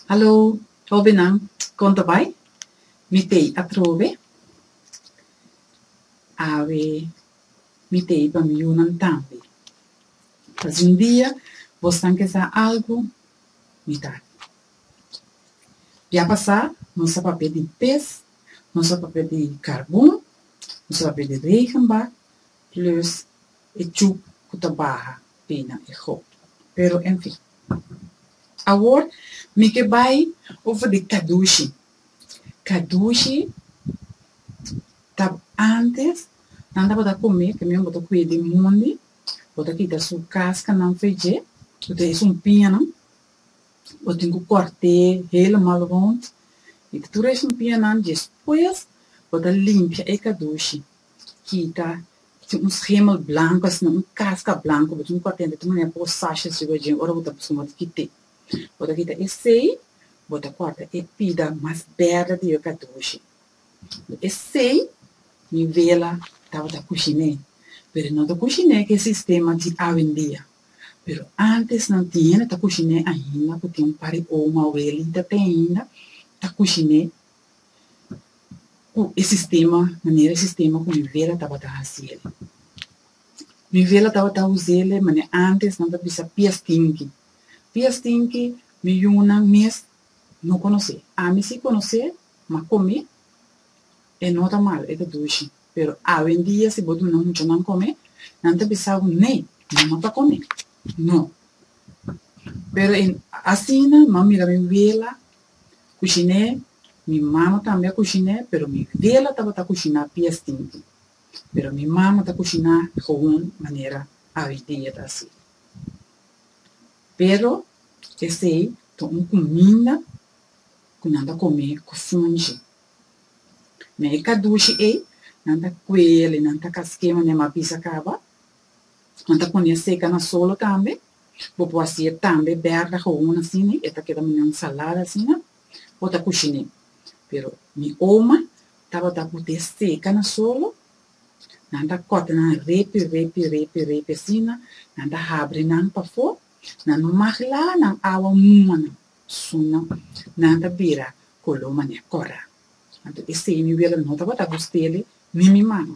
Hallo, hobennan, kon ta bai? Mi t'ei atrobe. Awe, mi t'ei pami yunan tambe. Pas un dia bos tan ke sa algu, mi ta aki. Ya pasá nos a papia di pes, nos a papia di karbon, nos a papia di regenbak, Plus e chup cu ta baha bina e hoop. Pero en fin. Awor mi ke bay over di Kadushi. Kadushi ta antes nan tabata come también bo ta cuye di mundi, bo ta kita su cascanan fe dje, cu ta esun piñanan, bo tin cu corte helemal rond y ta tur esun piñanan, despues bo ta limpia e kadushi. kita bo tin un schemel blanco asina un casca blanco bo tin cu a tenta tin manera pa bo sashes riba djen ora bo ta busca moti kite bo ta kita esey bo ta corta e pida mas berde di riba kua ta dushi den esey mi vela tabata cushine pero no ta cushine cu e sistema di awendia pero antes nan tin hende ta cushine ainda cu tin un par di oma abuelita te ainda ta cushine ku e sistema, manera e sistema ku mi vela tabata hasi el. Mi vela tabata usa el mane ántes nan ta bisa pies tinki. Pies tinki mi yunan mes no konosé. Ami si konosé, ma kome e no ta mal, e ta dushi. Pero awendia si bo duna muchanan kome, nan ta bisa bo, ne, nan no ta kome. No. Pero asina nan mira mi vela. kushiné, mi mama tambe a kushiné pero mi vela tabata kushiná pies tinti, pero mi mama ta kushiná gewoon manera awidia ta hasi. Pero esei ta un kuminda ku nan ta kom'é ku funchi. Na e kadushi ei nan ta kuel i nan ta kask'é manera mi a bisa kaba, Bo ta pone e seka na solo tambe, bo por hasi e tambe bèrda houn asina, e ta keda manga ensalada asina, bo ta kushiné. Pero mi oma tabata put'é seka na solo, nan ta kòt nan repi repi repi repi asina, nan ta habri nan pafó, nan magla nan awa muma nan, suna nan ta bira koló manera kòrda. Anto esei mi wela no tabata gust'é ni mi mama.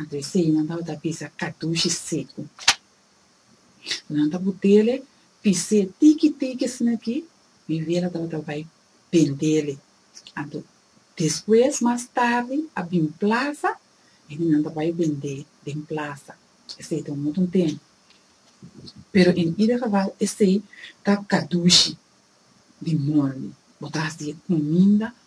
Anto esei nan tabata pisa katushi seku. Ku nan ta butele, pis'é tiki tiki asin'akí, mi vela tabata bai bendele. Anto despues, mas tardi, a bin plasa, i nan ta bai bend'é den plasa. Esei ta un otro ntén. Pero en ida geval esei ta katushi di mondi, bo ta hasié kuminda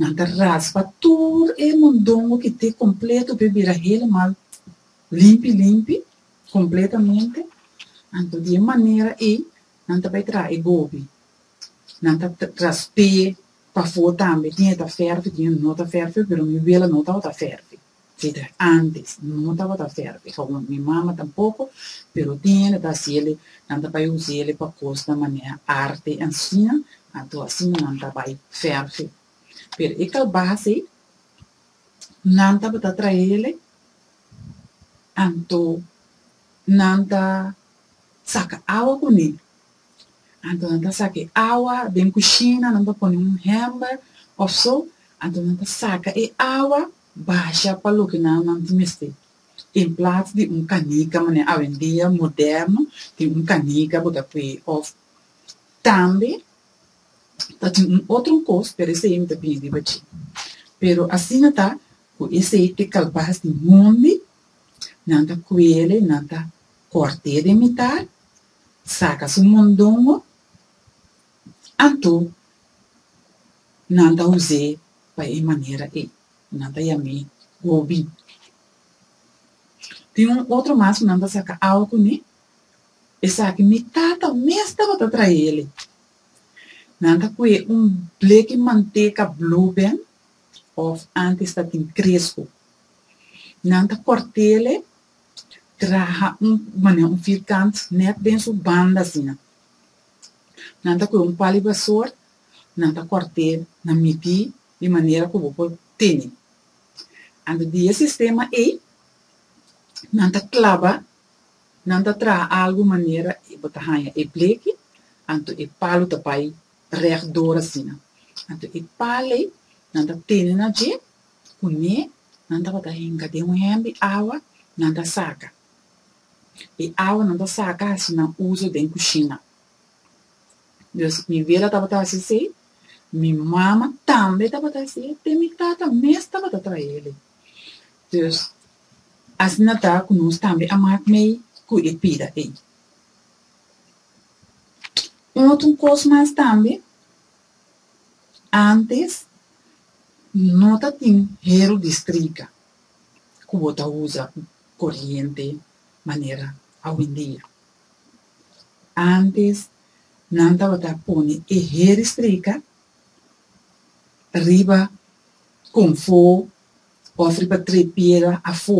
Nan ta raspa tur e mondongo ki te kompleto p'e bira helemal limpi limpi, kompletamente. Anto di e manera ei nan ta bai traha e gobi. Nan ta rasp'é pafó tambe, tin e ta fèrfi, tin e no ta fèrfi, pero mi wela no tabata fèrfi. Peter, Antes no tabata ferve, kaunda mi mama tampoko, pero tin hende ta hasi ele, nan ta bai usa ele pa kos na manera arte asina, anto asina nan ta bai ferve. Pero e kalbas ei nan tabata trae ele, anto nan ta saka awa kuné, anto nan ta saka e awa den kushina, nan ta pone un hèmber of so, anto nan ta saka e awa Basha pa loke nan nan tin mester. En plats di un canica manera awendia moderno tin un canica bo ta pue of tambe ta tin un otro cos pero esey mi ta bini riba dje. Pero asina ta cu esey te calbas di hondi nan ta cuele nan ta corte den mitar saca su mondongo anto nan ta use pa e manera ei. Nan ta yam'é Gobi. Tin un otro mas ku nan ta saka awa kuné, esaki mi tata mes tabata traé el'e. Nan ta kue un bleki manteka Blueband òf ántes ta tin Cresco. Nan ta kòrt'é el'e, traha un manera un firkant nèt den su banda asina. Nan ta kue un pali basor nan ta kòrt'é na mití di manera ku bo por tene. Anto di e sistema ei nan ta klaba, nan ta traha algu manera bo ta haña e bleki, anto e palu ta bai rèk dor asina. Anto e pal ei nan ta tene na dje, kuné nan tabata henga den un hèmbi awa, nan ta saka e awa nan ta saka hasi nan uso den kushina. Dus mi bela tabata hasi esei, mi mama tambe tabata hasi e, te mi tata mes tabata traha elei. Dus, asina ta ku nos tambe a mak mei ku e pida ei. Un otro kos mas tambe, antes no ta tin hero distrika ku bo ta usa koriente manera awendia. Antes nan tabata pone e heri strika riba konfó òf riba tre piera afó.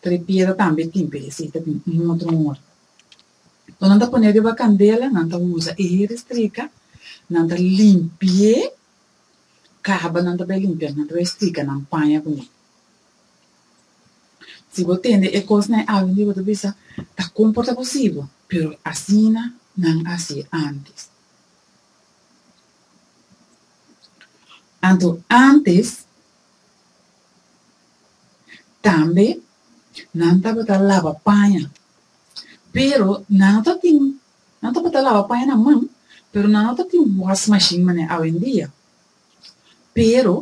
Tre piera tambe tin p'e esei ta tin un otro nòmber. Ku nan ta pone riba kandela nan ta usa e heri strika, nan ta limpi'é, kaba nan ta bai limpianan ta bai strika nan paña kuné. Si bo tende e kosnan e algu di bo ta bisa, ta komportá bo si bo, pero asina nan a hasié ántes. Anto ántes tambe nan tabata laba paña, pero nan no tabatin nan tabata laba paña na man, pero nan no tabatin wòs mashin manera awendia. Pero,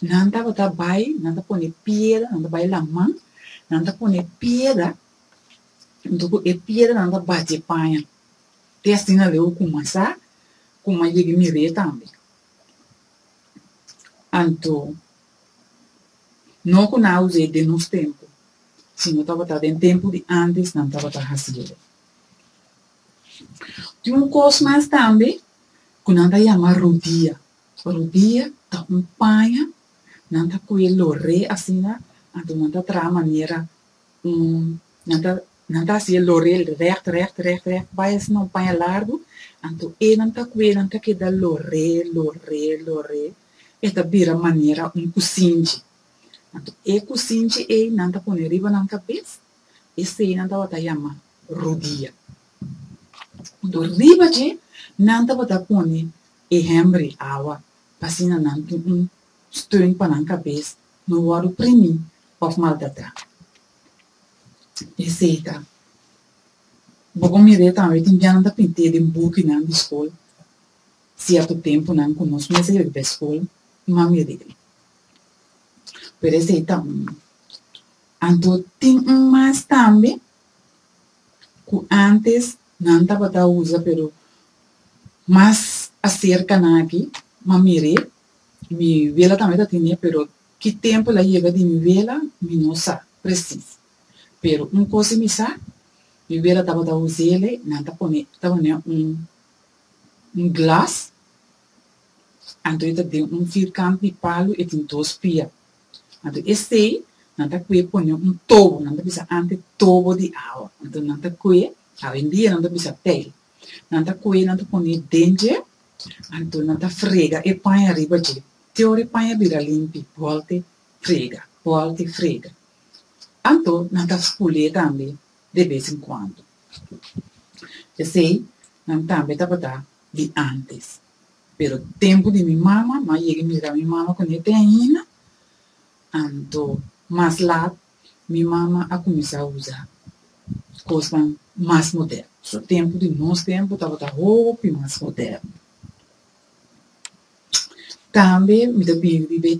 nan tabata bai, nan ta pone piera, nan ta bai laman, nan ta pone piera, nto ku e piera nan ta bati e paña, te asina luego kumansá kuma yega e mir'é tambe. Anto, no ku nan a us'é den nos tempu, sino tabata den tempu di ántes nan tabata hasié. Tin un kos mas tambe ku nan ta yama rudia. Rudia ta un paña, nan ta kue lor'é asina, anto nan ta traha manera un, nan ta nan ta hasié lor'é règt règt règt règt bai asina un paña largu, anto e nan ta kue nan ta keda lor'é lor'é lor'é e ta bira manera un kusinchi. Anto e kusinchi ei nan ta pone riba nan kabes E estenan tabata yama rudia. Punto riba dje nan tabata pone e hèmbri, awa, pa asina nan tin un steun pa nan kabes no wòrdu primí òf maltratrá. Esei ta. Bo por mira e tambe tin bianan ta pint'é den bukinan di skol sierto tempunan ku nos mester yega pa e skol, nan mira esei ta un. Anto tin un mas tambe cu antes nan tabata usa pero mas acerca nan aki ma mir'e y mi wela tambe ta tin'e pero ki tempo el a yega di mi wela mi no sa precies pero un cos y mi sa mi wela tabata us'ele nan ta pone ta pone un glass anto e ta den un firkant di palo e tin dos pia. Anto esei nan ta kue pone un tobo, nan ta bisa ante tobo di awa, anto nan ta kue, awendia nan ta bisa pei, nan ta kue nan ta pone den dje, anto nan ta frega e paña riba dje, te ora e paña bira limpi, bolte frega, bolte frega, anto nan ta spul'e tambe de bes en kuando. Esei nan tambe tabata di antes. pero tempu di mi mama no a yega mira mi mama ku nete ainda anto mas lat mi mama a kuminsá usa kosnan mas moderno so tempu di nos tempu tabata hopi mas moderno tambe mi ta biba di